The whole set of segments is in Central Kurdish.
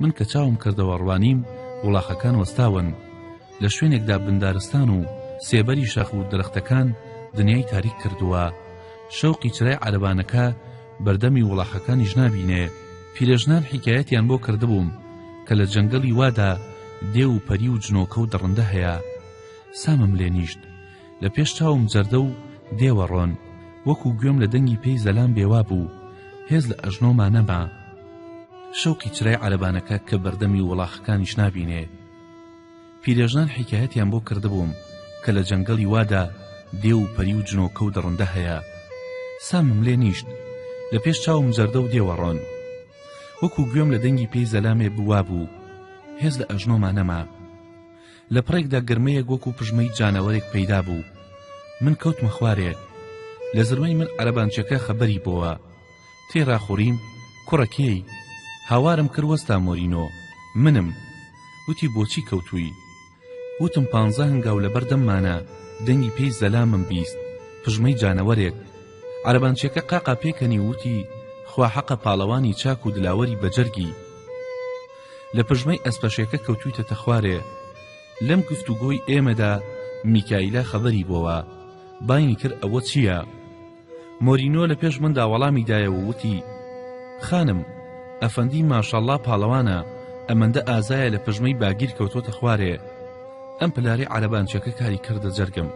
من کە چاوم کردەوە ڕوانیم وڵاخەکان وەستاون لە شوێنێکدا بندارستان و سێبەری شاخ و درەختەکان دنیای تاریک کردووە شەوقی چرای عربانەکە بەردەمی وڵاخەکانیش نابینێ پیرەژنان حکایەتیان بۆ کردبووم کە لە جەنگەڵی وادا دێ و پەری و جنۆکە و دڕندە هەیە سامم لێ نیشت لە پێش چاوم جەردە و دێوە ڕۆن وەکو گوێم لە دەنگی پێی زەلام بێوا بوو هێز لە ئەژنۆما نەما شەوقی چرای عەربانەکە کە بەردەمی وڵاخەکانیش نابینێ پیرێژنان حیکایەتیان بۆ کردبووم کە لە جەنگەڵی وادا دێ و پەری و جنۆکە و دڕندە هەیە سامم لێ نیشت لە پێش چاوم جەردە و دێوەڕۆن وەکو گوێم لە دەنگی پێی زەلامێ بوا بوو هێز لە ئەژنۆما نەما لە پڕێکدا گرمەیەک وەکو پژمەی جانەوەرێک پەیدا بوو من کەوتمە خوارێ لە زرمەی من عەرەبانچەکە خەبەری بۆوە تێرا خوڕیم کوڕە کێی هاوارم کرد وەستا مۆرینۆ منم وتی بۆچی کەوتووی وتم پانزە هەنگاو لەبەر دەممانە دەنگی پێی زەلامم بیست پژمەی جانەوەرێک عەرەبانچەکە قاقا پێکەنی وتی خوا حەقە پاڵەوانی چاک و دلاوەری بەجەرگی لە پژمەی ئەسپەشێکە کەوتویتەتە خوارێ لەم گفتوگۆی ئێمەدا میکایلا خەبەری بۆوە باینی کرد ئەوە چییە مۆرینۆ لە پێش مندا وەڵامی دایە و وتی خانم ئەفەندی ماشەڵڵا پاڵەوانە ئەمەندە ئازایە لە پژمەی باگیر کەوتۆتە خوارێ ئەم پلاری عەرەبانچەکە کاری کردە جەرگم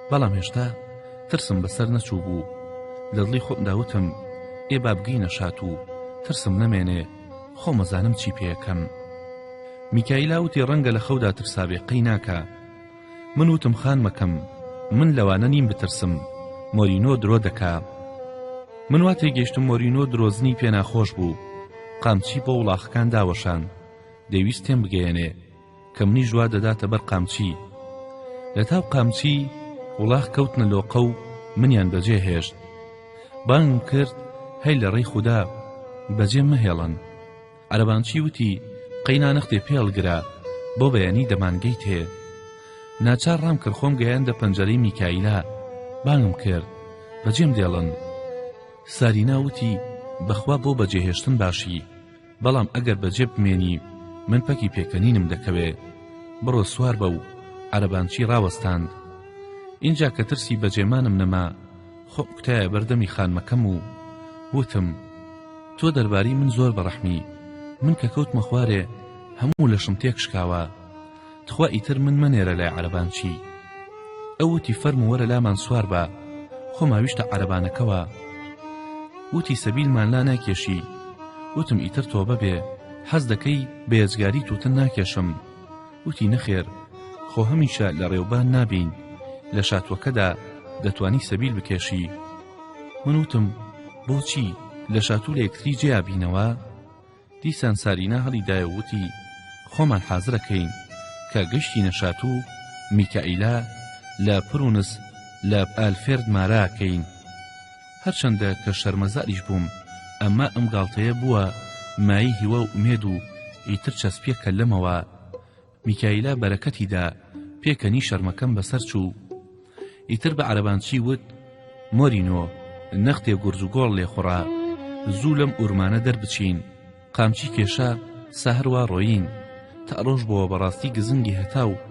بەڵام هێشتا ترسم بەسەر نەچوو بوو لە دڵی خۆمدا وتم ئێ بابگەینە شات و ترسم نەمێنێ خۆم ئەزانم چی پێەکەم میکایلا وتی ڕەنگە لە خەودا ترسابێ قەی ناکە من وتم خانمەکەم من لەوانە نیم بترسم مۆرینۆ درۆ دەکا من وا تێگەشتم مۆرینۆ درۆزنی پێناخۆش بوو قامچی بۆ وڵاخەکان داوەشان دەویست تێم بگەیەنێ کە منیش وا دەداتە بەر قامچی لە تاو قامچی وڵاخ کەوتنە لۆقە و منیان بەجێ هێشت بانگ کرد هەی لە ڕێی خوددا بەجێ مەهێڵن عەرەبانچی وتی قەینا نەختێ پێڵگرە بۆ بەیانی دەمانگەیت هێ ناچار ڕام کرد خۆم گەیاندە پەنجەرەی میکایلا بانگم کرد بەجێم دێڵن سارینا وتی بەخوا بۆ بەجێهێشتن باشی بەڵام ئەگەر بەجێ بمێنی من پەکی پێکەنینم دەکەوێ بڕۆ سوار بە و عەرەبانچی ڕاوەستاند ئینجا کە ترسی بەجێمانم نەما خۆ کوتایە بەردەمی خانمەکەم و وتم تۆ دەرباری من زۆر بەڕەحمی من کە کەوتمە خوارێ هەموو لەشم تێک شکاوە تخوا ئیتر من مەنێرە لای عەرەبان چی ئەو وتی فەرموو وەرە لامان سوار بە خۆمان ویشتە عەرەبانەکەوە وتی سەبیلمان لا ناکێشی وتم ئیتر تۆبە بێ حەز دەکەی بێجگاری توتن ناکێشم وتی نەخێر خۆ هەمیشە لە ڕێوبان نابین لە شاتوەکەدا دەتوانی سەبیل بکێشی من وتم بۆچی لە شاتوو لە یەکتری جێیا بینەوە دیسان سارینا هەڵیدایە و وتی خۆمان حازرە کەین کە گەشتینە شاتوو میکائیلا لە پرونس لە ئالفێرد مارا کەین هەرچەندە کە شەرمەزاریش بووم ئەمما ئەم گاڵتەیە بووە مایەی هیوا و ئومێد و ئیتر چەسپیە کەللەمەوە میکایلا بەرەکەتی دا پێکەنی شەرمەکەم بەسەر چوو ئیتر بە عەرەبانچی وت مۆرینۆ نەختێ گورج و گۆڵ لێخوڕا زوو لەم ئورمانە دەربچین قامچی کێشا سەهروا ڕۆیین تا ڕۆژ بۆوە بەڕاستی گزنگی هەتا و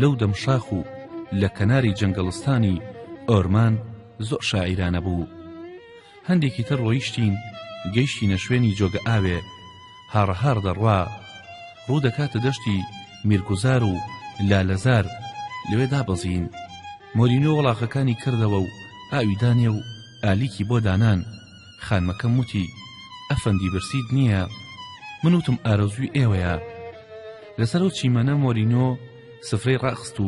لەو دەم شاخ و لە کەناری جەنگەڵستانی ئۆرمان زۆر شاعیرانە بوو هەندێکی تر ڕۆیشتین گەیشتینە شوێنی جۆگە ئاوێ هاڕە هاڕ دەڕوا ڕوو دەکاتە دەشتی میرگوزار و لالەزار لەوێ دابەزین مۆرینۆ وەڵاخەکانی کردەوە و ئاوی دانێ و ئالیکی بۆ دانان خانمەکەم وتی ئەفەندی برسیت نییە من وتم ئارەزووی ئێوەیە لەسەر ئەو چیمەنە مۆرینۆ سفرەی ڕاخست و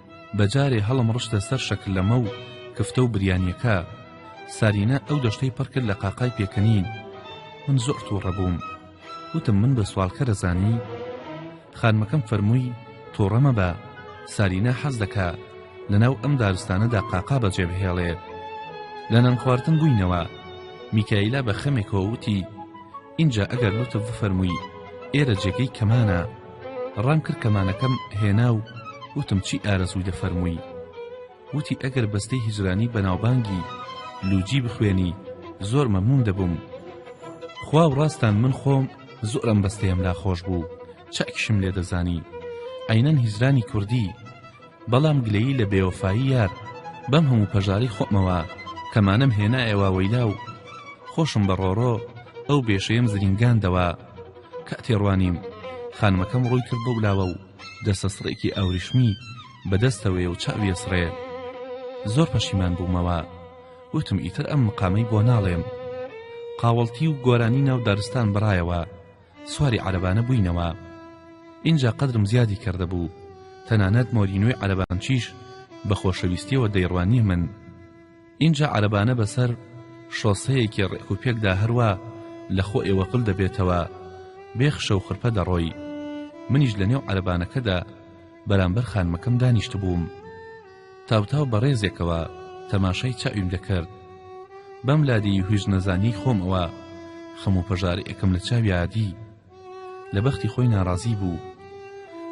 بەجارێ هەڵم ڕشتە سەر شەکرلەمە و کفتە و بریانیەکە سارینە ئەو دەشتەی پڕ کرد لە قاقای پێکەنین من زۆر تووڕە بووم وتم من بە سوالکەرە زانی خانمەکەم فەرمووی تۆڕە مەبە سارینە حەز دەکا لەناو ئەم دارستانەدا قاقا بەجێ بهێڵێت لە نان خواردن بووینەوە میکایلا بە خەمێکەوە وتی ئینجا ئەگەر لوتف بفەرمووی ئێرە جێگەی کەمانە ڕام کرد کەمانەکەم هێنا و وتم چی ئارەزووی دەفەرمووی وتی ئەگەر بەستەی هیجرانی بەناوبانگی لوجی بخوێنی زۆر مەمنون دەبووم خوا و ڕاستان من خۆم زۆرم بەستەیەم لا خۆش بوو چاکیشم لێ دەزانی عینەن هیجرانی کوردی بەڵام گلەیی لە بێوەفایی یار بەم هەموو پەژارەی خۆمەوە کەمانەم هێنایە واوەیلا و خۆشم بە ڕۆڕۆ ئەو بێشەیەم زرینگاندەوە کە تێڕوانیم خانمەکەم ڕووی کرد بەو لاوە و دەستە سڕێکی ئاوریشمی بەدەستەوەی و چاویە سڕێ زۆر پەشیمان بوومەوە وتم ئیتر ئەم مقامەی بۆ ناڵێم قاوەڵتی و گۆرانی ناو دارستان بڕایەوە سواری عەرەبانە بووینەوە ئینجا قەدرم زیادی کردبوو تەنانەت مۆرینۆی عەرەبانچیش بە خۆشەویستیەوە دەیڕوانیە من ئینجا عەرەبانە بەسەر شۆسەیەکی ڕێک و پێکدا هەروە لە خۆ ئێوە قل دەبێتەوە بێخشە و خرپە دەڕۆی منیش لە نێو عەرەبانەکەدا بەرامبەر خانمەکەم دانیشتبووم تاوتاو بە ڕێزێکەوە تەماشای چاویم دەکرد بەم لادی هویژ نەزانی خۆمەوە خەم و پەژار ئەکەم لە چاویادی لە بەختی خۆی ناڕازی بوو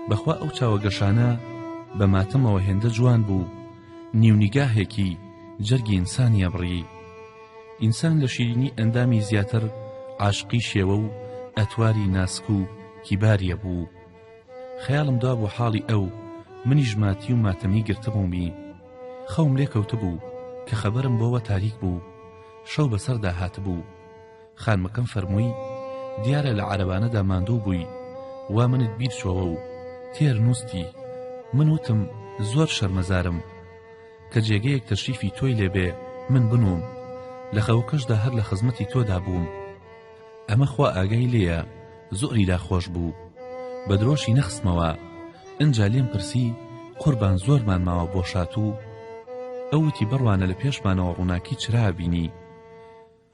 بەخوا ئەو چاوە گەشانە بە ماتەمەوە هێندە جوان بوو نیونیگاهێکی جەرگی ئینسانیە بڕی ئینسان لە شیرینی ئەندامی زیاتر عاشقی شێوە و ئەتواری ناسک و کیباریە بوو خەیاڵم دوا بۆ حاڵی ئەو منیش ماتی و ماتەمی گرتبوومی خەوم لێ کەوتبوو کە خەبەرم بۆوە تاریک بوو شەو بەسەردا هاتبوو خانمەکەم فەرمووی دیارە لە عەرەبانەدا ماندوو بووی وا منت بیر چۆوە و تێر نووستی من وتم زۆر شەرمەزارم کە جێگەیەک تەشریفی تۆی لێبێ من بنووم لە خەوەکەشدا هەر لە خزمەتی تۆدا بووم ئەمە خوا ئاگای لێیە زۆری لا خۆش بوو بە درۆشی نەخستمەوە ئنجا لێم پرسی قوربان زۆرمان ماوە بۆ شاتوو ئەوتی بڕوانە لە پێشمانەوە ڕووناکی چرا بینی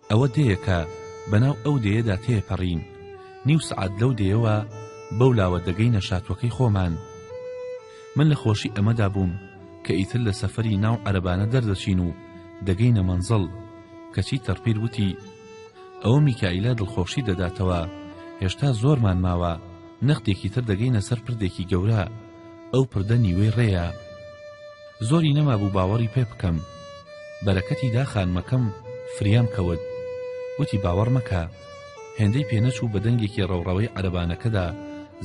ئەوە دەیەکە بەناو ئەو دەیەدا تێپەڕین نیو سعات لەو دەیەوە بەو لاوە دەگەی نەشاتوەکەی خۆمان من لە خۆشی ئەمەدا بووم کە ئیتر لە سەفری ناو عەربانە دەردەچین و دەگەینە مەنزڵ کەچی تەرپیر وتی ئەو میکائیلە دڵخۆشی دەداتەوە هێشتا زۆرمان ماوە نەختێکی تر دەگەینە سەر پردێکی گەورە ئەو پردە نیوەی ڕێیە زۆری نەمابوو باوەڕی پێ بکەم بەرەکەتی دا خانمەکەم فریام کەوت وتی باوەڕ مەکە هێندەی پێنەچوو بە دەنگێکی ڕەوڕەوەی عەرەبانەکەدا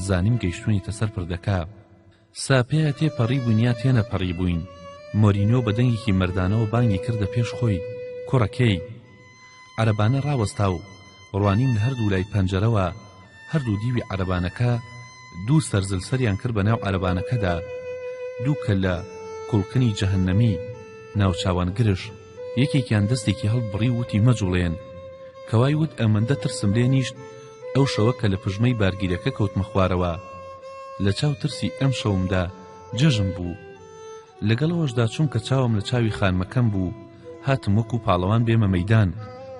زانیم گەیشتونیتە سەر پردەکە ساپێا تێ پەڕیبووین یا تێ نەپەڕیبووین مۆرینیۆ بە دەنگێکی مەردانەوە بانگی کردە پێش خۆی کوڕە کێی عەرەبانە ڕاوەستا و ڕوانیم لە هەردوو لای پەنجەرەوە هەردوو دیوی عەرەبانەکە دوو سەرزل سەریان کرد بە ناو عەرەبانەکەدا دوو کەللە کوڵقنی جەهەنەمی ناوچاوان گرژ یەکێکیان دەستێکی هەڵبڕی و وتی مەجوڵێن کەوای وت ئەمەندە ترسم لێ نیشت ئەو شەوە کە لە پژمەی بارگیرەکە کەوتمە خوارەوە لە چاو ترسی ئەم شەومدا جەژن بوو لەگەڵ ئەوەشدا چونکە چاوم لە چاوی خانمەکەم بوو هاتم وەکو پاڵەوان بێمە مەدان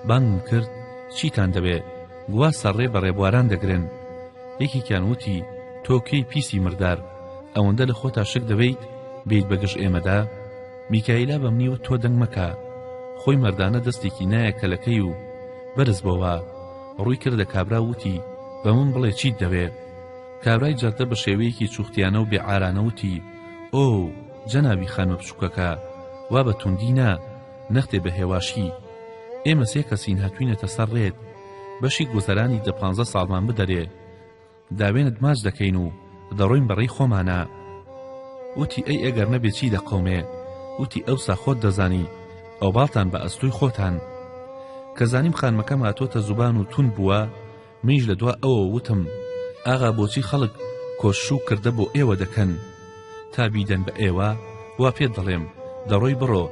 بانگم کرد چیتان دەوێت گوا سەرڕێ بە ڕێبواران دەگرن یەکێکیان وتی تۆ کێی پیسی مردار ئەوەندە لە خۆتا شک دەبیت بیت بەگژ ئێمەدا میکایلا بە منی وت تۆ دەنگ مەکە خۆی مەردانە دەستێکی نایە کەلەکەی و بەرز بۆوە ڕووی کردە کابرا وتی بە من بڵێ چیت دەوێ کابرای جەردە بە شێوەیەکی چوختیانە و بێعارانە وتی ئۆ جەنابی خانمە بچووکەکە وا بە توندی نا نەختێ بە هێواشی ئێمە سێ کەسین هاتوینەتە سەر ڕێت بەشی گوزەرانی دە پانزە ساڵمان بدەرێ داوێنت ماچ دەکەین و دەڕۆین بە ڕێی خۆمانا وتی ئەی ئەگەر نەبێ چی دەقەومێ وتی ئەوسا خۆت دەزانی ئەو باڵتان بە ئەستۆی خۆتان کە زانیم خانمەکەم هاتۆتە زوبان و تون بووە منیش لە دوا ئەوە وتم ئاغا بۆچی خەڵک کۆشش و کردە بۆ ئێوە دەکەن تا بیدەن بە ئێوە وا پێت دەڵێم دەڕۆی بڕۆ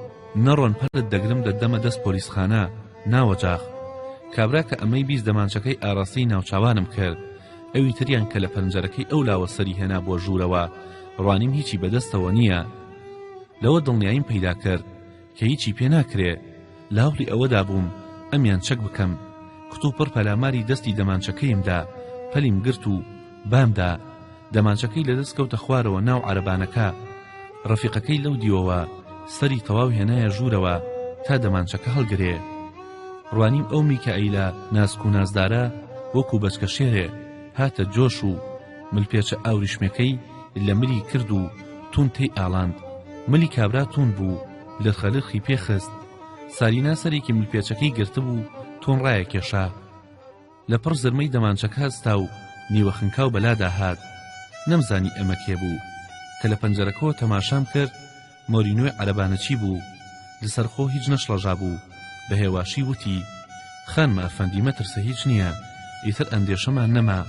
نەڕۆن پەلت دەگرم دەدەمە دەست پۆلیسخانە ناوەجاخ کابرا کە ئەمەی بیست دەمانچەکەی ئاراستەی ناوچاوانم کرد ئەوی تریان کە لە پەنجەرەکەی ئەو لاوە سەری هێنا بۆ ژوورەوە ڕوانیم هیچی بەدەستەوە نییە لەوە دڵنیاییم پەیدا کرد کە هیچی پێ ناکرێ لاوڵی ئەوەدا بووم ئەمیان چەک بکەم کتوپڕ پەلاماری دەستی دەمانچەکەیمدا پەلیم گرت و بامدا دەمانچەکەی لەدەست کەوتە خوارەوە ناو عەرەبانەکە ڕەفیقەکەی لەو دیوەوە سەری تەواو هێنایە ژوورەوە تا دەمانچەکە هەڵگرێ ڕوانیم ئەو میکائیلە ناسک و نازدارە وەکو بەچکە شێرێ هاتە جۆش و ملپێچە ئاوریشمەکەی لە ملی کرد و تون تێی ئاڵاند ملی کابرا تون بوو لە خەلرخی پێخست سارینا سەرێکی ملپێچەکەی گرتبوو تۆن ڕایە کێشا لە پڕ زرمەی دەمانچەکە هەستا و نیوە خنکاو بەلادا هات، نەمزانی ئەمە کێ بوو، کە لە پەنجەرەکەوە تەماشام کرد مۆرینۆی عەرەبانەچی بوو، لەسەرخۆ هیچ نەشڵەژابوو، بە هێواشی وتی، خانمە ئەفەندی مەترسە هیچ نییە، ئیتر ئەندێشەمان نەما.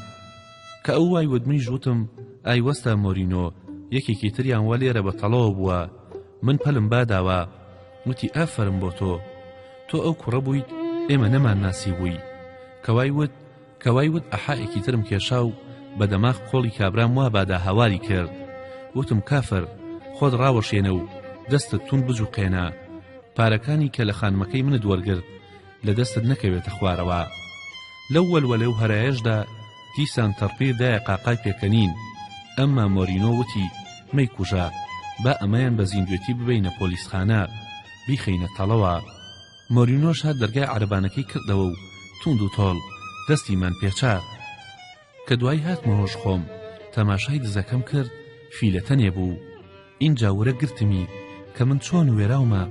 کە ئەو وای وت منیش وتم، ئای وەستا مۆرینۆ، یەکێکی تریان وا لێرە بە تەڵەوە بووە، من پەلم با داوە. وتی ئافەرم بۆ تۆ تۆ ئەو کوڕە بوویت ئێمە نەمان ناسی بووی کەوای وت کەوای وت ئەحائێکی ترم کێشا و بە دەماغ قۆڵی کابرام وا بادا هاواری کرد وتم کافر خۆت ڕاوەشێنە و دەستت تون بجوقێنە پارەکانی کە لە خانمەکەی منت وەرگرت لە دەستت نەکەوێتە خوارەوە. لەو وەلوەلە و هەرایەشدا دیسان تەڕپیر دایە قاقای پێکەنین، ئەمما مۆرینۆ وتی، مەیکوژە، با ئەمەیان بە زیندوێتی ببەینە پۆلیسخانە، بیخەینە تەڵەوە. مۆرینۆش هەر دەرگای عەرەبانەکەی کردەوە و تووند و تۆڵ دەستیمان پێچا. کە دوایی هاتمە هۆش خۆم تەماشای دزەکەم کرد فیلە تەنێ بوو ئینجا ورە گرتمی کە من چۆن وێراومە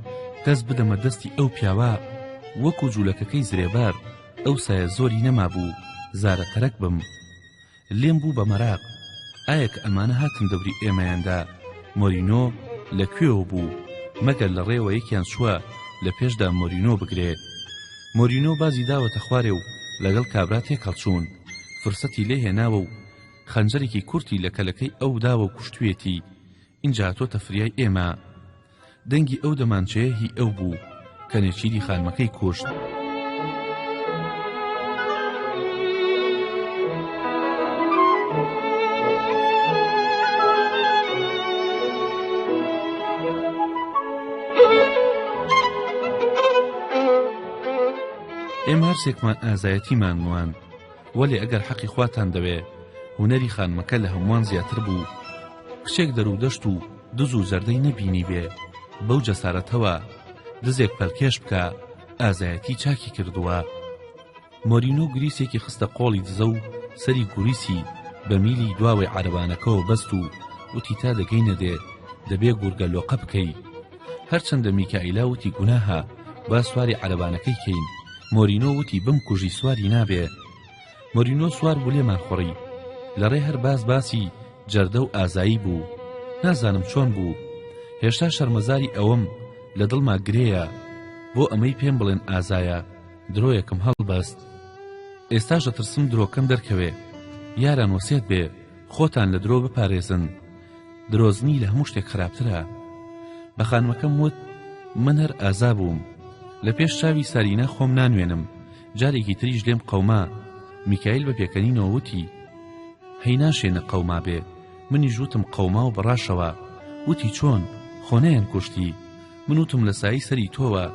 دەست بدەمە دەستی ئەو پیاوە وەکو جوولەکەکەی زرێبار ئەو سایە زۆری نەما بوو زارە تەرەک بم لێم بوو بە مەراق ئایا کە ئەمانە هاتن دەوری ئێمەیاندا مۆرینۆ لە کوێوە بوو مەگەر لە ڕێوە یەکیان چووە لە پێشدا مۆرینۆ بگرێت مۆرینۆ بازی داوەتە خوارێ و لەگەڵ کابرا تێکەڵچوون فرسەتی لێ هێناوە و خەنجەرێکی کورتی لە کەلەکەی ئەو داوە و کوشتویەتی ئینجا هاتۆتە فریای ئێمە دەنگی ئەو دەمانچەیە هی ئەو بوو کە نێچیری خانمەکەی کوشت. ئێمە هەرسێکمان ئازایەتیمان نواند وەلێ ئەگەر حەقی خواتان دەوێ هونەری خانمەکە لە هەمووان زیاتر بوو کچێک دەرو دەشت و دز و زەردەی نەبینی بێ بەو جەسارەتەوە دزێک پەلکێش بکە ئازایەتی چاکی کردووە مۆرینۆ گریسێکی خستە قۆڵی دزە و سەری گوریسی بە میلی دواوەی عربانەکەەوە بەست و وتی تا دەگەینە دێ دەبێ گورگە لۆقە بکەی هەرچەندە میکائیلا وتی گوناهە با سواری عەرەبانەکەی کەین مۆرینۆ وتی بمکوژی سواری نابێ مۆرینۆ سوار بوو لێمان خوڕی لەڕێ هەر باس باسی جەردە و ئازایی بوو نازانم چۆن بوو هێشتا شەرمەزاری ئەوەم لە دڵما گرێیە بۆ ئەمەی پێم بڵێن ئازایە درۆیەکم هەڵبەست ئێستاش دەترسم درۆکەم دەرکەوێ یاران وەسێت بێ خۆتان لە درۆ بپارێزن درۆزنی لە هەموو شتێک خراپترە بە خانمەکەم وت من هەر ئازا بووم لە پێش چاوی سارینا خۆم نانوێنم جارێکی تریش لێم قەوما میکایل بە پێکەنینەوە وتی هەی ناشێنە قەوما بێ منی ژوتم قەوما و بەڕاشەوە وتی چۆن خۆنیان کوشتی من وتم لە سایی سەری تۆوە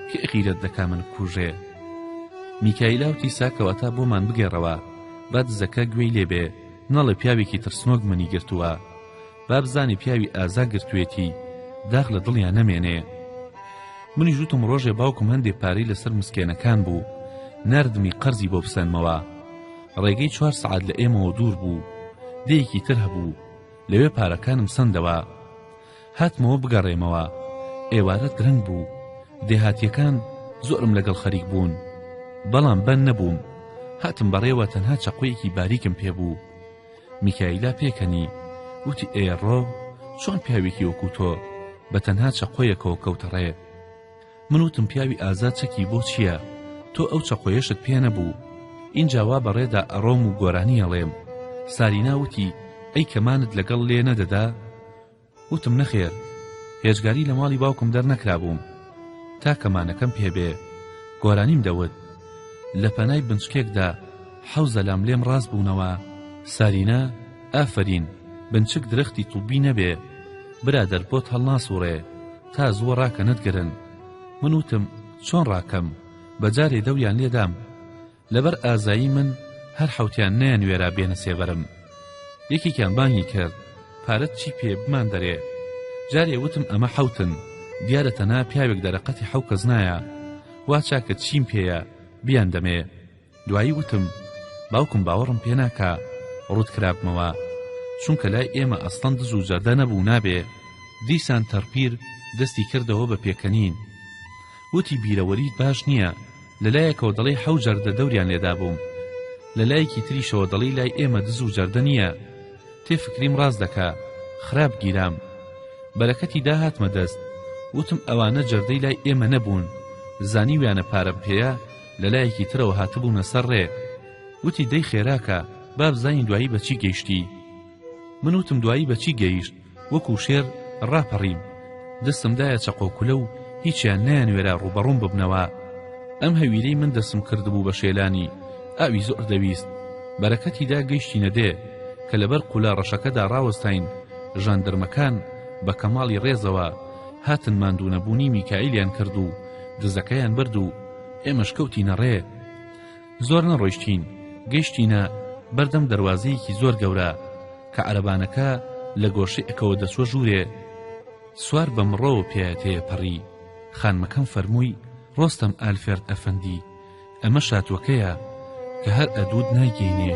کە غیرەت دەکا من کوژێ میکایلاوتی ساکەوەتا بۆمان بگەڕەوە با دزەکە گوێی لێبێ نەڵێ پیاوێکی ترسنۆک منی گرتووە بابزانێ پیاوی ئازا گرتوێتی داخ لە دڵیان نەمێنێ منیش وتم ڕۆژێ باوکم هەندێ پارەی لەسەر مسکێنەکان بوو نردمی قەرزی بۆ بسەنمەوە ڕێگەی چوار سعات لە ئێمەوە دوور بوو دەیەکی تر هەبوو لەوێ پارەکانم سندەوە هاتمەوە بگەڕێمەوە ئێوارە درەنگ بوو دێهاتیەکان زۆرم لەگەڵ خەریک بوون بەڵام بەند نەبووم هاتم بەڕێوە تەنها چەقۆیەکی باریکم پێبوو میکایلا پێکەنی وتی ئێڕۆ چۆن پیاوێکی وەکو تۆ بە تەنها چەقۆیەکەوە کەوتەڕێ من وتم پیاوی ئازا چەکی بۆ چییە؟ تۆ ئەو چەقۆیەشت پێ نەبوو. ئینجا وا بە ڕێدا ئەڕۆم و گۆرانی ئەڵێم. سارینا وتی، ئەی کەمانت لەگەڵ لێ نەدەدا؟ وتم نەخێر. هێجگاری لە ماڵی باوکم دەرنەکرابووم تا کەمانەکەم پێ بێ. گۆرانیم دەوت. لە پەنای بنچکێکدا حەوزە لام لێم ڕاست بوونەوە. سارینا، ئافەرین، بنچک درەختی طوبی نەبێ. برادەر بۆت هەڵناسووڕێ. تا زووە ڕاکە نەتگرن من وتم چۆن ڕاکەم بە جارێ دەویان لێدام لەبەر ئازایی من هەر حوتیان نیان وێرا بێنە سێبەرم یەکێکیان بانگی کرد پارەت چی پێ بمان دەرێ جارێ وتم ئەمە حوتن دیارە تەنا پیاوێک دەرەقەتی حوکەز نایە وا چاکە چیم پێیە بیان دەمێ دوایی وتم باوکم باوەڕم پێ ناکا ڕووت کرابمەوە چونکە لای ئێمە ئەسڵەن دز و جەردە نەبوو نابێ دیسان تەرپیر دەستی کردەوە بە پێکەنین وتی بیرەوەریت باش نییە لەلایەکەوە دەڵی حەو جەردە دەوریان لێدا بووم لە لایەکی تریشەوە دەڵی لای ئێمە دز و جەردە نییە تێ فکریم ڕاز دەکا خراپ گیرام بەرەکەتی داهاتمە دەست وتم ئەوانە جەردەی لای ئێمە نەبوون زانیویانە پارەم پێەیە لە لایەکی ترەوە هاتبوونە سەر ڕێ وتی دەی خێراکە با بزانین دوایی بە چی گەیشتی من وتم دوایی بە چی گەیشت وەکو شێر ڕاپەڕیم دەستم دایە چەقۆکولە و هیچیان نەیانوێرا ڕوبەڕوم ببنەوە ئەم هەویرەی من دەسم کردبوو بە شێلانی ئاوی زۆر دەویست بەرەکەتیدا گەیشتینە دێ کە لەبەر قولە ڕەشەکەدا ڕاوەستاین ژاندرمەکان بە کەماڵی ڕێزەوە هاتن ماندوونەبوونی میکائیلیان کرد و دزەکەیان برد و ئێمەش کەوتینە ڕێ زۆر نەڕۆیشتین گەیشتینە بەردەم دەروازەیەکی زۆر گەورە کە عەرەبانەکە لە گۆشەی ئەکەوە دەچوە ژوورێ سوار بە مڕەوە پێەتەیە پەڕی خانمەکەم فەرمووی ڕۆستەم ئالفێرد ئەفەندی ئەمە شاتوەکەیە کە هەر ئەدود نایگەینێ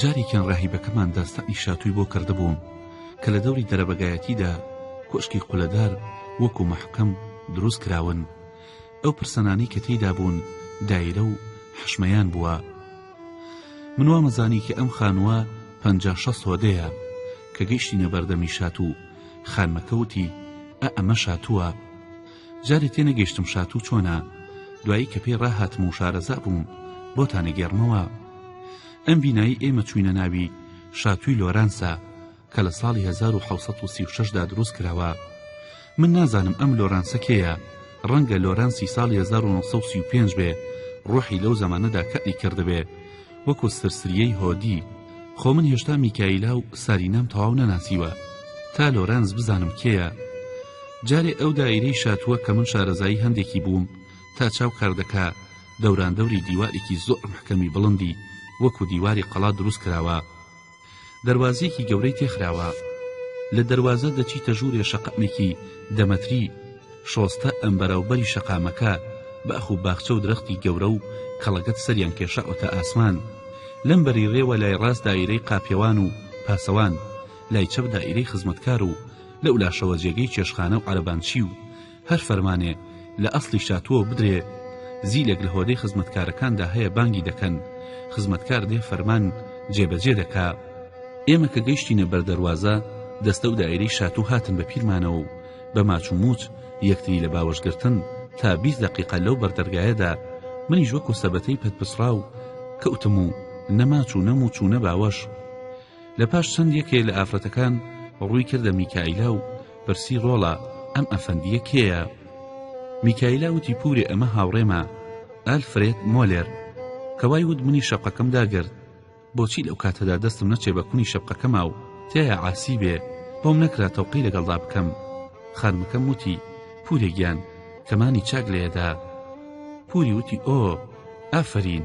جارێکیان ڕاهیبەکەمان داستانی شاتووی بۆ کردبووم کە لە دەوری دەرەبەگایەتیدا کۆشکی قولەدار وەکو مەحکەم دروست کراون ئەو پرسەنانەی کە تێیدا بوون دایرە و حشمەیان بووە من وامەزانی کە ئەم خانووە پەنجا شەست هۆدەیە کە گەیشتینە بەردەمی شات و خانمەکە وتی ئە ئەمە شاتووە جارێ تێنەگەیشتم شاتوو چۆنە دوایی کە پێی ڕاهاتم و شارەزا بووم بۆتانەگەێڕمەوە ئەم بینایی ئێمە چوینە ناوی شاتووی لۆرانسە کە لە ساڵی هەزار و حەوت سەد و سی و شەش دا دروست کراوە من نازانم ئەم لۆرانسە کێیە ڕەنگە لۆرانسی ساڵی هەزار و نۆ سەد و سی و پێنج بێ ڕۆحی لەو زەمانەدا کەئری کردبێ وەکو سرسریەی هۆدی خۆ من هێشتا میکایلا و سارینام تەواو نەناسیوە تا لۆرانس بزانم کێیە جارێ ئەو دایرەی شاتووە کە من شارەزایی هەندێکی بووم تا چاو کار دەکا دەوراندەوری دیوارێکی زۆر محکەمی بڵندی وەکو دیواری قەڵا دروست کراوە دەروازەیەکی گەورەی تێ خراوە لە دەروازە دەچیتە ژوورێ شەقامێکی دە مەتری شۆستە ئەم بەرەو بەری شەقامەکە باخ و باخچە و درەختی گەورە و کەڵەگەت سەریان کێشاوەتە ئاسمان لەم بەری رێوە لای راست دایرەی قاپیەوان و پاسەوان لای چەپ دایرەی خزمەتکار و لەو لاشەوە جێگەی چێشخانە و عەرەبانچی و هەر فەرمانێ لە ئەسڵی شاتووەوە بدرێ، زیلێک لە هۆدەی خزمەتکارەکاندا هەیە بانگی دەکەن، خزمەتکار دێ فەرمان جێبەجێ دەکا. ئێمە کە گەیشتینە بەر دەروازە، دەستە و دائیرەی شاتوو هاتن بە پیرمانەوە و بە ماچ و مووچ یەکتری لە باوەش گرتن تا بیست دەقیقە لەو بەر دەرگایەدا، منیش وەکوو سەبەتەی پەت پچڕاو کەوتم و نە ماچ و نە مووچ و نە باوەش، لە پاش چەند یەکێ لە ئافرەتەکان ڕووی کردە میکائیلا و پرسی ڕۆڵە ئەم ئەفەندییە کێیە؟ میکائیلا وتی پورێ ئەمە هاوڕێمە ئەلفرێد مۆلێر کە وای وت منی شەقەکەم داگرت بۆچی لەو کاتەدا دەستم نەچێ بە کونی شەقەکەما و تیایا عاسی بێ بۆم نەکرا تەوقی لەگەڵدا بکەم خانمەکەم وتی پورێ گیان کەمانی چاک لێدا پوری وتی ئۆ ئافرین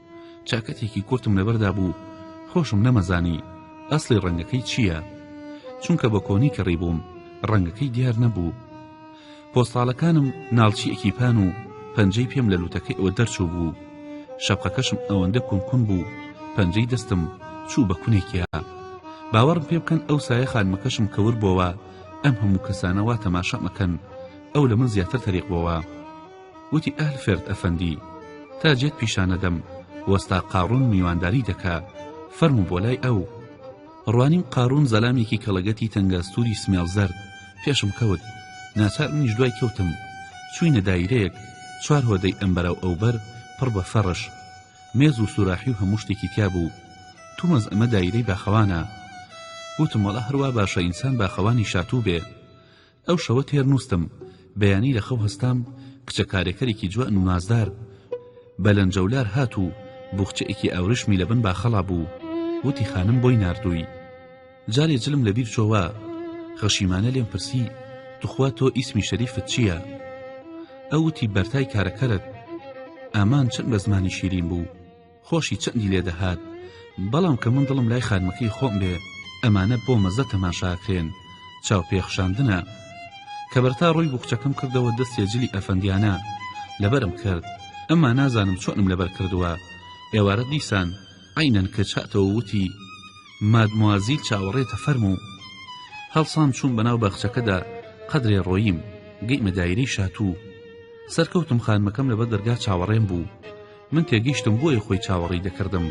چاکەتێکی کورتم لەبەردا بوو خۆشم نەمەزانی ئەسڵی ڕەنگەکەی چییە چونکە بە کۆنی کەڕی بووم ڕەنگەکەی دیار نەبوو پۆستاڵەکانم ناڵچیەکی پان و پەنجەی پێم لە لوتەکەی ئەوە دەرچوو بوو شەپقەکەشم ئەوەندە کونکون بوو پەنجەی دەستم چوو بە کونێکیا باوەڕم پێ بکەن ئەو سایە خانمەکەشم کەور بۆوە ئەم هەموو کەسانەوە تەماشامەکەن ئەو لە من زیاتر تەریق بۆوە وتی ئەلفرد ئەفەندی تا جێت پیشان نەدەم وەستا قاڕون میوانداری دەکا فەرموو بۆ لای ئەو ڕوانیم قاڕون زەلامێکی کەڵەگەتی تەنگەستوری سمێڵ زەرد پێشم کەوت ناچار منیش دوای کەوتم چوینە دایرەیەک چوار هۆدەی ئەم بەراو ئەوبەر پڕ بە فەڕش مێز و سوراحی و هەموو شتێکی تیا بوو تومەز ئەمە دایرەی باخەوانە وتم وەڵا هەروا باشە ئینسان باخەوانی شاتوو بێ ئەو شەوە تێر نوستم بەیانی لە خەو هەستام کچە کارێکەرێکی جوان و نازدار بە لەنجەولار هات و بوخچەیەکی ئاورشمی لەبن باخەڵا بوو وتی خانم بۆی ناردووی جارێ جلم لە بیر چۆوە خەشیمانە لێم پرسی توخوا تۆ ئیسمی شەریفت چییە ئەوتی بەرتای کارەکەرت ئامان چەند بە زمانی شیرین بوو خۆشی چەندی لێ دەهات بەڵام کە من دڵم لای خانمەکەی خۆم بێ ئەمانە بۆ مەزە تەماشاکرێن چاو پێخشاندنە کە بەرتا ڕووی بوخچەکەم کردەوە دەستێ جلی ئەفەندیانە لەبەرم کرد ئەما نازانم چۆنم لەبەر کردووە ئێوارە دیسان عینەن کچ هاتەوە وتی مادموازیل چاوەڕێتە فەرمو هەڵسام چوون بەناو باخچەکەدا قەدرێ ڕۆیم گەیمە دایرەی شاتوو سەرکەوتم خانمەکەم لەبەر دەرگا چاوەڕێم بوو من تێگەیشتم بۆیە خۆی چاوەڕێی دەکردم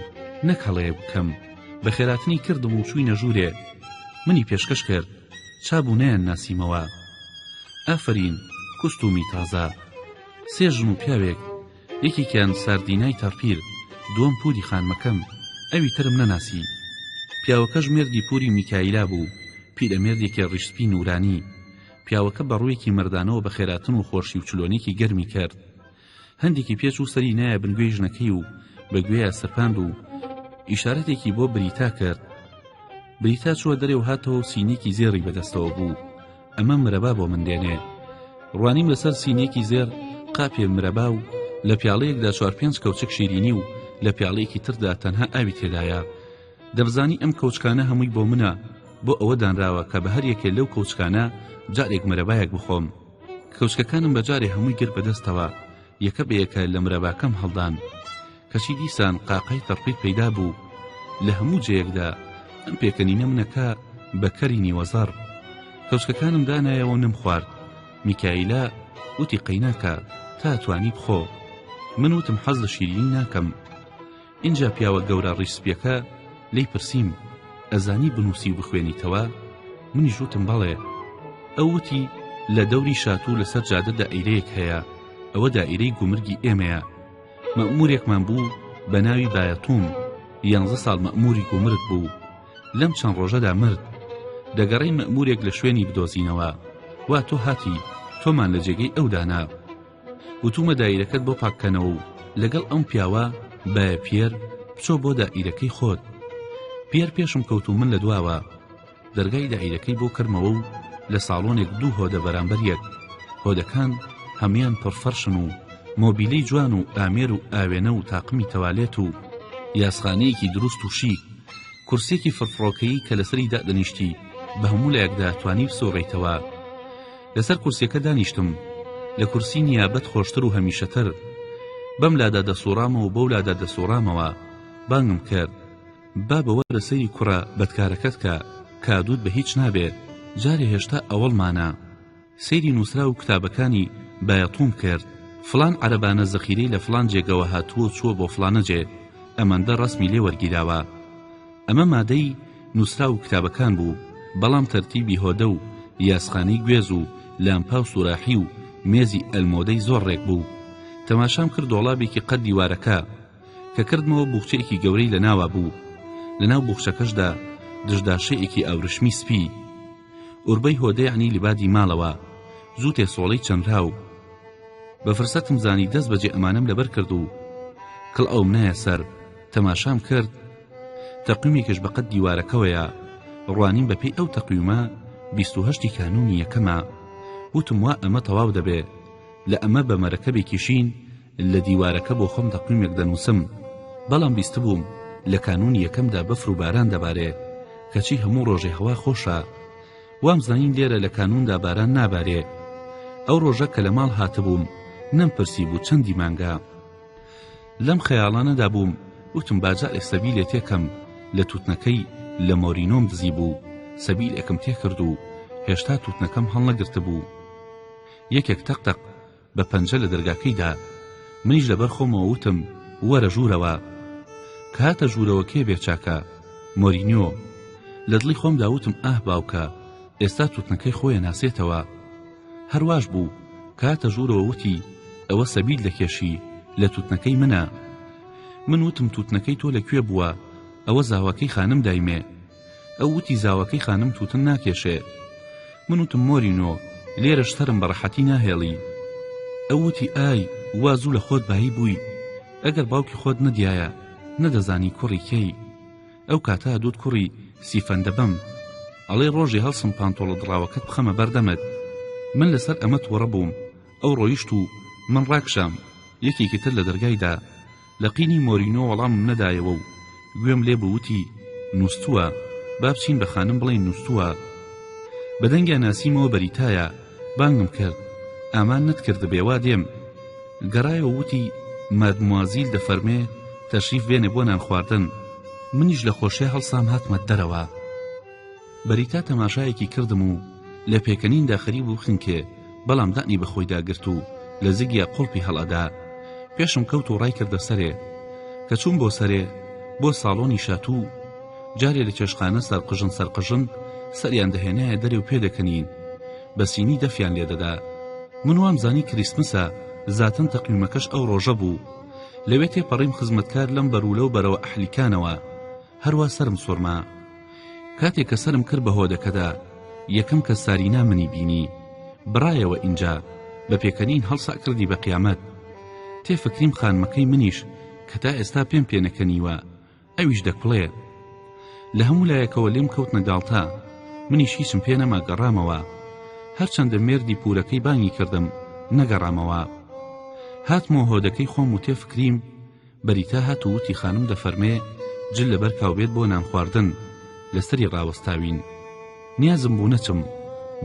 نەک هەڵەیەک بکەم بە خێراتنی کردم و چووینە ژوورێ منی پێشکەش کرد چابوو نەیان ناسیمەوە ئافرین کوستومی تازە سێ ژن و پیاوێک یەکێکیان ساردینای تەڕپیر دووەم پوری خانمەکەم ئەوی ترم نەناسی پیاوەکەش مێردی پوری میکایلا بوو پیرەمێردێکی ڕیشسپی نورانی پیاوەکە بە ڕوویەکی مردانەوە بە خێراتن و خۆشی و چلۆنێکی گەرمی کرد هەندێکی پێچ و سەری نایە بن گوێی ژنەکەی و بە گوێیا سەرپاند و ئیشارەتێکی بۆ بریتا کرد بریتا چووە دەرێ و هاتەوە و سینێکی زێڕی بەدەستەوە بوو ئەمە مرەبا بۆ من دێنێ ڕوانیم لەسەر سینێکی زێر قاپێ مرەبا و لە پیاڵەیەکدا چوار پێنج کەوچک شیرینی و لە پیاڵەیەکی تردا تەنها ئاوی تێدایە دەبزانی ئەم کەوچکانە هەمووی بۆ منە بۆ ئەوە دانراوە کە بە هەر یەکێ لەو کەوچکانە جارێک مرەبایەک بخۆم کەوچکەکانم بە جارێ هەمووی گرت بەدەستەوە یەکە بە یەکە لە مرەباکەم هەڵدان کەچی دیسان قاقای تەڕپی پەیدا بوو لە هەموو جەیەکدا ئەم پێکەنینە منەکە بە کەری نیوەزەڕ کەوچکەکانم دانایەوە نم خوارد میکایلا وتی قەیناکە تا توانی بخۆ من وتم حەز لە شیرینی ناکەم ئینجا پیاوە گەورە ڕیش سپیەکە لێی پرسیم ئەزانی بنووسی و بخوێنیتەوە منیش وتم بەڵێ ئەو وتی لە دەوری شاتوو لەسەر جادە دائیرەیەک هەیە ئەوە دائیرەی گومرگی ئێمەیە مەمورێکمان بوو بە ناوی بایەتوم یانزە ساڵ مەموری گومرگ بوو لەم چەند ڕۆژەدا مرد دەگەڕین مەمورێک لە شوێنی بدۆزینەوە وا تۆ هاتی تۆمان لە جێگەی ئەودانا وتومە دایرەکەت بۆ پاککەنەوە و لەگەڵ ئەم پیاوە بە پیەر بچۆ بۆ دائیرەکەی خۆت پیەر پێشم کەوت و من لە دواوە دەرگای دائیرەکەی بۆ کردمەوە و لە ساڵۆنێک دوو هۆدە بەرامبەر یەک هۆدەکان هەموان پڕفەرشن و مۆبیلی جوان و ئامێر و ئاوێنە و تاقمی تەوالێت و یاسخانەیەکی دروست و شیک کورسێکی فرفڕۆکەیی کە لەسەری دادەنیشتی بە هەموو لایەکدا توانی بسوڕیتەوە لەسەر کورسیەکە دانیشتم لە کورسی نیابەت خۆشتر و هەمیشەتر بەم لادا دەسوڕامەوە بەو لادا دەسوڕامەوە بانگم کرد با بەوە لە سەیری کوڕە بەدکارەکەت کە کادوت بە هیچ نابێت جارێ هێشتا ئەوەڵمانە سەیری نووسرا و کتابەکانی بایەتوم کرد فلان عەربانە زەخیرەی لە فلان جێگەوە هاتووە چووە بۆ فلانە جێ ئەمەندە ڕسمی لێ وەرگیراوە ئەمە مادەی نوسراو و کتابەکان بوو بەڵام تەرتیبی هۆدە و یاسخانەی گوێز و لامپا و سوراحی و مێزی ئەلمۆدەی زۆر ڕێک بوو تەماشام کرد دۆڵابێکی قەد دیوارەکە کە کردمەوە بوخچەیەکی گەورەی لە ناوا بوو لەناو بوخچەکەشدا دژداشەیەکی ئاورشمی سپی ئوربەی هۆدەیانی لبادی ماڵەوە زوو تێسۆڵەی چەنرا و بە فرسەتم زانی دەست بەجێ ئەمانەم لەبەر کرد و کڵ ئەوم نایە سەر تەماشام کرد تەقویمێکش بە قەد دیوارەکەوەیە ڕوانیم بە پێی ئەو تەقویمە بیست و هەشتی کانونی یەکەمە وتم وا ئەمە تەواو دەبێ لە ئەمە بە مەرەکەبێکی شین لە دیوارەکە بۆ خۆم تەقویمێک دەنووسم بەڵام بیستبووم لە کانونی یەکەمدا بەفر و باران دەبارێ کەچی هەموو ڕۆژێ هەوا خۆشە وام زانین لێرە لە کانوندا باران نابارێ ئەو ڕۆژە کە لە ماڵ هاتبووم نەمپرسی بوو چەندی مانگە لەم خەیاڵانەدا بووم وتم باجائێ سەبیلێ تێکەم لە توتنەکەی لە مۆرینۆم دزی بوو سەبیلێکم تێکرد و هێشتا توتنەکەم هەڵنەگرتبوو یەکێک تەق تەق بە پەنجە لە دەرگاکەیدا منیش لەبەر خۆمەوە وتم وەرە ژوورەوە کاتە ژوورەوە کێ بێچاکە مۆرینۆ لە دڵی خۆم داوتم ئاه باوکە ئێستا توتنەکەی خۆیە ناسێتەوە هەر واش بوو، کاتە ژوورەوە وتی، ئەوە سەبیل دەکێشی، لە تووتنەکەی منە. من وتم تووتنەکەی تۆ لە کوێ بووە؟ ئەوە زاواکەی خانم دایمێ. ئەو وتی زاواکەی خانم تووتن ناکێشێ. من وتم مۆرینۆ، لێرەش سەرم بە ڕەحەتی ناهێڵی. ئەو وتی ئای، وا زوو لە خۆت بایی بووی، ئەگەر باوکی خۆت نەدیایە، نەدەزانی کوڕی کێی. ئەو کاتە دوت کوڕی سیفەن دەبەم ئەڵێی ڕۆژێ هەڵسم پانتۆڵە دڕاوەکەت بخەمە بەردەمت من لەسەر ئەمە تۆڕە بووم ئەو ڕۆیشت و من ڕاکشام یەکێکی تر لە دەرگایدا لە قینی مۆرینۆ وەڵامم نەدایەوە و گوێم لێ بووتی نووستووە با بچین بە خانم بڵێین نووستووە بە دەنگیا ناسیمەوە بەریتایە بانگم کرد ئامان نەتکردبێ وا دێم گەڕایەوە و وتی مادموازیل دەفەرمێ تەشریف بێنێ بۆ نان خواردن منیش لە خۆشێ هەڵسام هاتمە دەرەوە بەریتا تەماشایەکی کردم و لە پێکەنیندا خەریب و خنکێ بەڵام دانی بە خۆیدا گرت و لە زگیا قڵپی هەڵەدا پێشم کەوت و ڕای کردە سەرێ کە چووم بۆ سەرێ بۆ ساڵۆنی شاتوو جارێ لە چێشتخانە سەرقژن سەرقژن سەریان دەهێنایە دەرێ و پێدەکەنین بە سینی دەفیان لێدەدا من وام زانی کریسمسە زاتن تەقویمەکەش ئەو ڕۆژە بوو لەوێ تێپەڕیم خزمەتکار لەم بەروولە و بەرەوە ئەحلیکانەوە هەروە سرم سوڕما کاتێک کە سرم کرد بە هۆدەکەدا یەکەم کە سارینا منی بینی بڕایەوە ئینجا بە پێکەنین هەڵسا کردی بە قیامەت تێفکریم خانمەکەی منیش کە تا ئێستا پێم پێنەکەنیوە ئەویش دەکڵێ لە هەموو لایەکەوە لێم کەوتنە گاڵتە منیش هیچم پێ نەما گەڕامەوە هەرچەندە مێردی پورەکەی بانگی کردم نەگەڕامەوە هاتمۆ هۆدەکەی خۆم و تێ فکریم بەریتا هات و وتی خانم دەفەرمێ جل لەبەر کاوبێت بۆ نان خواردن لەسەری ڕاوەستاوین نیازم بوو نەچم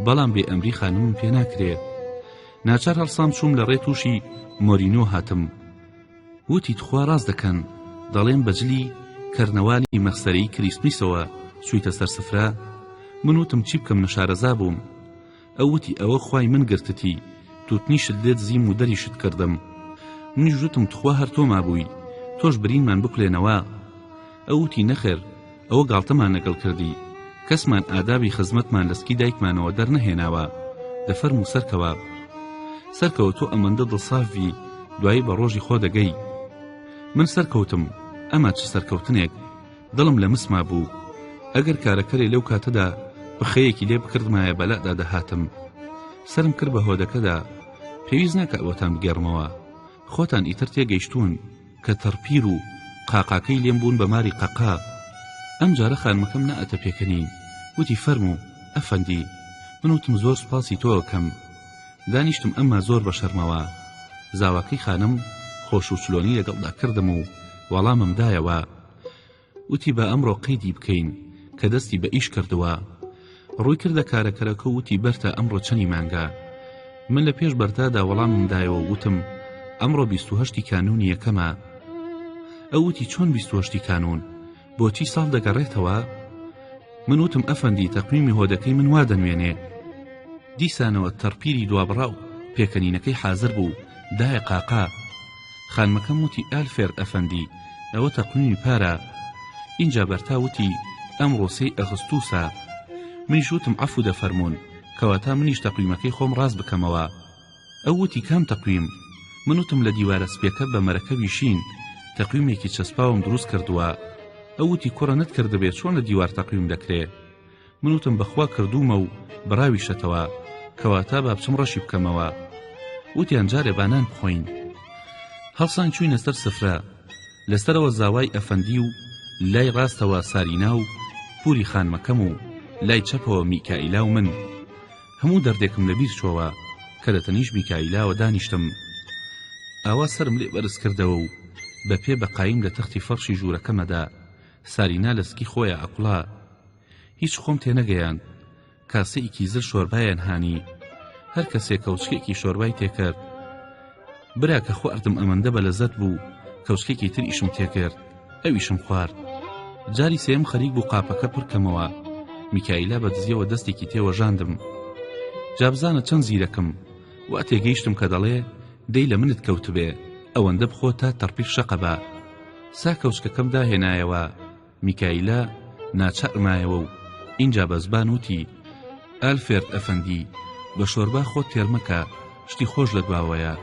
بەڵام بێ ئەمری خانمم پێ ناکرێ ناچار هەڵسام چووم لە ڕێ تووشی مۆرینۆ هاتم وتی تخوا ڕاست دەکەن دەڵێن بە جلی کەرنەوالی مەخسەرەی کریسمیسەوە چوویتە سەر سفرە من وتم چی بکەم نەشارەزا بووم ئەو وتی ئەوە خوای من گرتتی توتنیشت لێ دزیم و دەریشت کردم منیش وتم تخوا هەر تۆ مابووی تۆش برینمان بکولێنەوە ئەو وتی نەخێر ئەوە گاڵتەمان لەگەڵ کردی کەسمان ئادابی خزمەتمان لە سکی دایکمانەوە دەرنەهێناوە دە فەرم و سەرکەوە سەرکەوە تۆ ئەمەندە دڵسافی دوایی بە ڕۆژی خۆ دەگەی من سەرکەوتم ئەمە چ سەرکەوتنێک دڵم لە مسما بوو ئەگەر کارەکەرێ لەو کاتەدا پخەیەکی لێ بکردمایە بەلادا دەهاتم سرم کرد بە هۆدەکەدا پێویست ناکە ئەوەتان بگێڕمەوە خۆتان ئیتر تێگەیشتوون کە تەڕپیر و قاقاکەی لێم بوون بە ماری قەقا ئەم جارە خانمەکەم نەئەتە پێکەنین وتی فەرموو ئەفەندی من وتم زۆر سوپاسی تۆ ئەکەم دانیشتم ئەمما زۆر بە شەرمەوە زاواکەی خانم خۆش و چلۆنی لەگەڵدا کردم و وەڵامم دایەوە وتی با ئەمڕۆ قەیدی بکەین کە دەستی بە ئیش کردووە ڕووی کردە کارەکەرەکە و وتی بەرتا ئەمڕۆ چەنی مانگە من لە پێش بەرتادا وەڵامم دایەوە و وتم ئەمڕۆ بیست و هەشتی کانوونی یەکەمە ئەو وتی چۆن بیست و هەشتی کانوون بۆچی ساڵ دەگەڕێتەوە من وتم ئەفەندی تەقویمی هۆدەکەی من وا دەنوێنێ دیسانەوە تەڕپیری دوابڕاو پێکەنینەکەی حازر بوو دایە قاقا خانمەکەم وتی ئالفێرد ئەفەندی ئەوە تەقویمی پارە ئینجا بەرتا وتی ئەمڕۆ سێی ئەغستوسە منیش وتم عەفو دەفەرموون کەواتە منیش تەقویمەکەی خۆم ڕاست بکەمەوە ئەو وتی کام تەقویم من وتم لە دیوارە سپیەکە بە مەرەکەبی شین تەقویمێکی چەسپاوم دروست کردووە ئەو وتی کوڕە نەتکردبێ چۆن لە دیوار تەقویم دەکرێ من وتم بەخوا کردوومە و بڕاویشەتەوە کەواتە با بچم ڕەشی بکەمەوە وتیان جارێ بانان بخۆین هەڵسان چوینە سەر سفرە لەسەرەوە زاوای ئەفەندی و لای ڕاستەوە سارینا و پوری خانمەکەم و لای چەپەوە میکائیلا و من هەموو دەردێکم لەبیر چۆوە کە لە تەنیش میکائیلاوە دانیشتم ئاوا سرم لێ بەرز کردەوە و بە پێ بەقایم لە تەختی فەرشی ژوورەکەمەدا سارینا لە سکی خۆیە ئەکوڵا هیچ خۆم تێنەگەیاند کاسەیکی زل شۆربایان هانی هەر کەسێ کەوچکێکی شۆربای تێکرد برا کە خواردم ئەمەندە بە لەزەت بوو کەوچکێکی تر ئیشم تێکرد ئەویشم خوارد جاری سێم خەریک بوو قاپەکە پڕکەمەوە میکایلا بە دزیەوە دەستێکی تێوەژاندم جابزانە چەند زیرەکم وا تێگەیشتم کە دەڵێ دەی لە منت کەوتبێ ئەوەندە بخۆ تا تەڕپیر شەقەبا سا کەوچکەکەم داهێنایەوە میکایلا ناچار مایەوە و ئینجا بە زبان وتی ئەلفێرد ئەفەندی بە شۆربا خۆت تێرمەکە شتی خۆش لە دواوەیە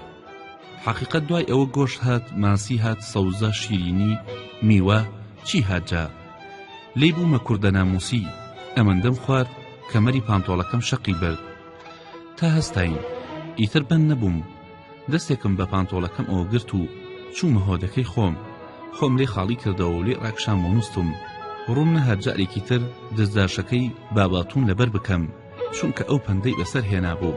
حەقیقەت دوای ئەوە گۆش هات ماسی هات سەوزە شیرینی میوە چی هاتجا لی بوومە کوردە ناموسی ئەمەندەم خوارد کەمەری پانتۆڵەکەم شەقی برد تا هەستین ئیتر بەند نەبووم دەستێکم بە پانتۆڵەکەمەوە گرت و چوومە هۆدەکەی خۆم خۆم لێ خاڵی کردەوە و لێ ڕاکشام و نووستم ڕووم نە هەر جارێکی تر دەستداشەکەی باباتوون لەبەر بکەم چونکە ئەو پەندەی بەسەر هێنابوو.